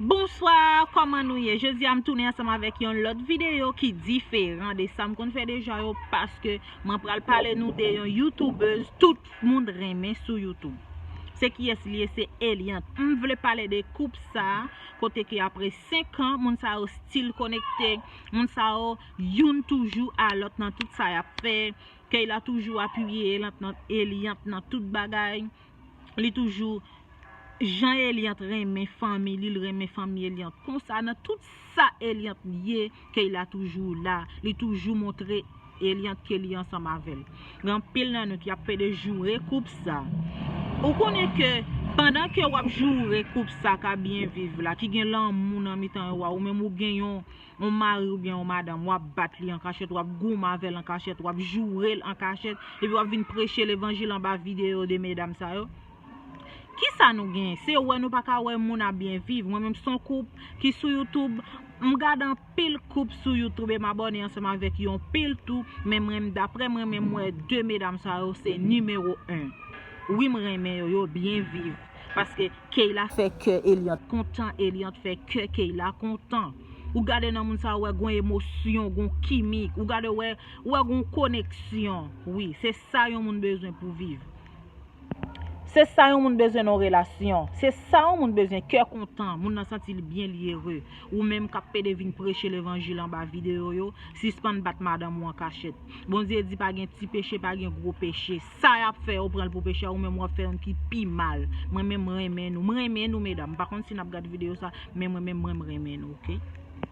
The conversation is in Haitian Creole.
Bonswa kòman nou ye jodi a m tounen ansanm avèk yon lòt videyo ki diferan de sa m konn fè deja yo paske mwen pral pale nou de yon youtubeuse tout moun renmen sou youtube se kiyès li ye se Eliante m vle pale de koup sa kote ke apre 5 an moun sa yo stil konekte moun sa yo youn toujou a lòt nan tout sa yap fè Keyla toujou apiye Eliante nan tout bagay. Li toujou Jan Eliant renmen fanmi li l renmen fanmi Eliant konsa nan tout sa Eliant ye Keyla toujou la li toujou montre Eliant ke li ansanm avèl gen anpil nan nou ki ap pede joure koup sa ou konnen ke pandan ke wap joure koup sa ka byen viv la ki gen lanmou nan mitan yo a ou menm ou gen yon yon mari oubyen yon madanm, w ap bat li an kachèt, w ap goumen avè l an kachèt, w ap joure l an kachèt, epi w ap vin preche levanjil anba videyo de medam sa yo. Ki sa nou genyen? Se wè nou pa ka wè moun ap byen viv. Mwen menm s on koup ki sou youtoub, m gad anpil koup sou youtoub e m abòne ansanm avèk yon pil tou, men mwen daprè mwen menm m wè de medam sa yo se nimewo 1. Wi m renmen yo, yo byen viv. Paske. Keyla fè kè Eliante kontan Eliante fè kè Keyla kontan ou gade nan moun sa ou wè gon emosyon gon kimik ou gade wè ou wè gon koneksyon wi se sa yon moun bezwen pou viv se sa yon moun bezwen nan relasyon se sa yon moun bezwen kè kontan moun nan santi li byen li ere ou menm kap pede vin preche levanjil anba video yo sispann bat madanm ou ankachèt Bondye di pa gen ti peche pa gen gwo peche Sa yap fè yo pranl pou pechè ou menm wap fè yon ki pi mal mwen menm renmen nou m renmen nou medam m pa konn si nap gad video sa men mwen menm mwen m renmen nou ok.